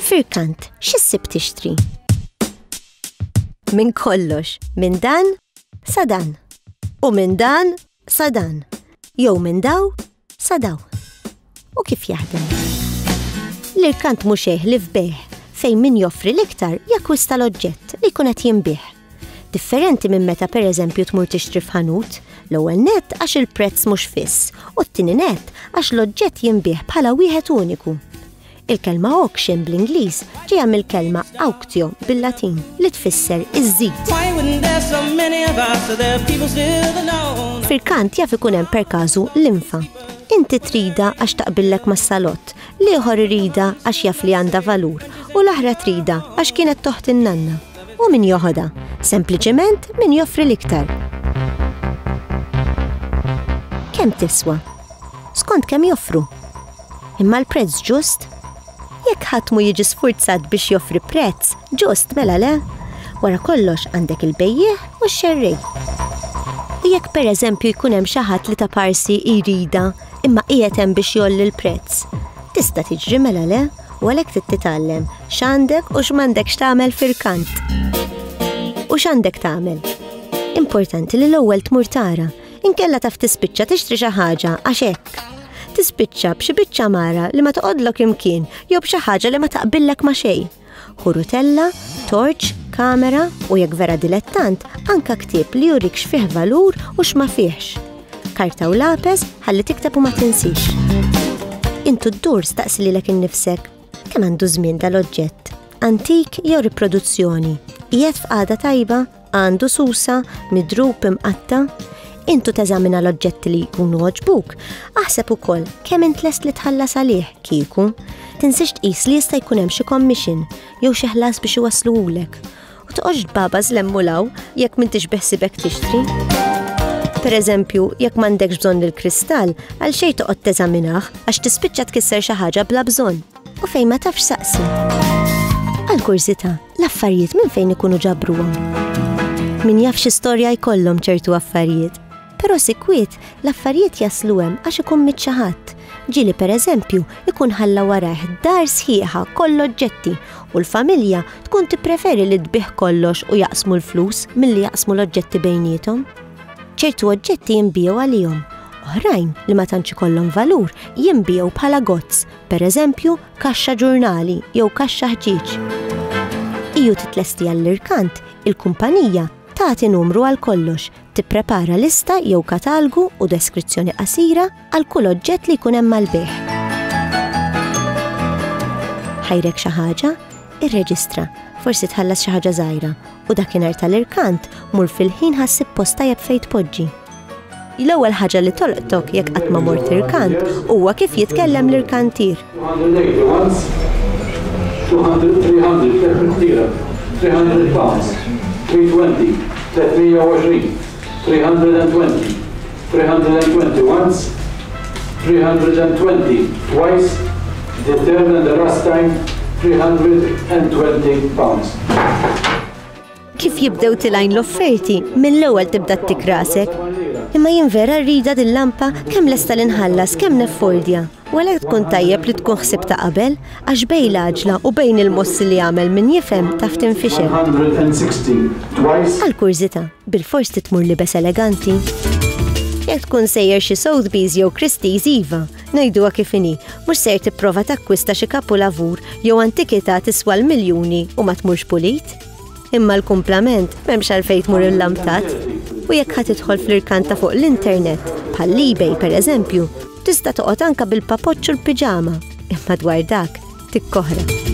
Firkant, x'issib tixtri? Minn kollox, minn dan sa dan. U minn dan sa dan. Jew minn daw Sadaw. U kif jaħdem? L-irkant mhux li f'beħ fejn min joffri l-iktar jakwista l-oġġett li jkun qed jinbih. Differenti minn meta pereżempju tmur tixtri f'ħanut, l-ewwel net għax il-prezz mhux fiss u t-tieni net għax l-oġġett jinbih bħala wieħed uniku. Il-kelma auction bl-Ingliż ġejja mill-kelma auctio bil-Latin li tfisser iż-żid. Fil-kant jaf ikun hemm perkażu l-infa. Inti trida għax taqbillek mas-salott, l-ieħor irida għax jaf li għandha valur u l-aħra trida għax kienet toħt in-nanna. U min joħodha? Sempliċement min joffri l-iktar. Kemm tiswa? Skont kemm joffru? Imma l-prezz ġust? Jekk ħadd mu jiġi sfurzat biex joffri prezz ġust mela le, wara kollox għandek il-bejjieħ u x-xerrej. U jekk pereżempju jkun hemm xi ħadd li ta' parsi jrida imma qiegħed hemm biex jolli l-prezz, tista' tiġri mela le u għalhekk trid titgħallem x'għandek u x'm'għandekx tagħmel fil-kant. U x'għandek tagħmel? Importanti li l-ewwel tmur tara Inkella taf tispiċċa tixtri xi ħaġa għax hekk. Tispiċċa b'xi biċċa mara li ma toqgħodlok imkien jew b'xi ħaġa li ma taqbillek ma' xejn. Ħurutella, torċ, kamera u jekk vera dilettant anka ktieb li jurik x'fih valur u x'ma fihx. Karta u lapes ħalli tikteb u ma tinsix. Intu d-dur staqsi lilek innifsek kemm għandu żmien dal-oġġett, antik jew riproduzzjoni, qiegħed f'qagħda tajba għandu susa, midrub, imqatta, intu teżamina l-oġġetti li jkunu oġbuk, aħseb ukoll kemm int lest li tħallas għalih kieku. Tinsiex tqis li jista' jkun hemm xi commission jew xi ħlas biex iwassluhulek. U toqgħodx baba żlemmu law jekk m'intix beħsibek tixtri. Per eżempju, jekk m'għandekx bżonn il-kristall, għal xejn toqgħod teżaminah għax tispiċċa tkisser xi ħaġa bla bżonn. U fejn ma tafx saqsi. Għal kurzita, L-affarijiet minn fejn ikunu ġabruhom. Min jaf xi storja jkollhom ċertu affarijiet. Però sikwiet l-affarijiet jaslu hemm għax ikun mit xi ħadd. Ġieli pereżempju ikun ħalla warajh dar sħiħa koll oġġetti u l-familja tkun tippreferi li tbigħ kollox u jaqsmu l-flus milli jaqsmu l-oġġetti bejniethom. ċertu oġġetti jinbigħu għalihom. Oħrajn li ma tantx ikollhom valur jinbigħu bħala gozz, pereżempju kaxxa ġurnali jew kaxxa ħġieġ. Iju titlesti għall-irkant, il-kumpanija tagħti numru għal kollox, tipprepara lista jew katalgu u deskrizzjoni qasira għal kull oġġett li jkun hemm mal-bejħ. Ħajrek xi ħaġa, irreġistra, forsi tħallas xi ħaġa żgħira u dakinhar tal-irkant mur fil-ħin ħassib post tajjeb fejn tpoġġi. L-ewwel ħaġa li tolqtok jekk qatt ma mort irkant huwa kif jitkellem l-irkantier. Kif jibdew tilajn l-offerti, mill-ewwel tibda ttik rasek. Imma jien vera rrida din lampa kemm lesta li nħallas kemm neffordja. U għalhekk tkun tajjeb li tkun ħsibta qabel, għax bejn l-għaġla u bejn il-mossi li jagħmel min jifhem taf tinfixel. Għal kurżità, bilfors trid tmur libes eleganti? Jekk tkun sejjer xi Sotheby's jew Christie's iva, ngħiduha kif inhi, mhux ser tipprova takkwista xi kapulavur jew antikità tiswa l-miljuni u ma tmurx pulit. Imma l-kumplament m'hemmx għalfejn tmur illamtat. U jekk ħadd idħol fl-irkant ta' fuq l-internet, bħall-eBay pereżempju, tista' toqgħod anka bil-papoċċ u l-piġama, imma dwar dak tikkoħra.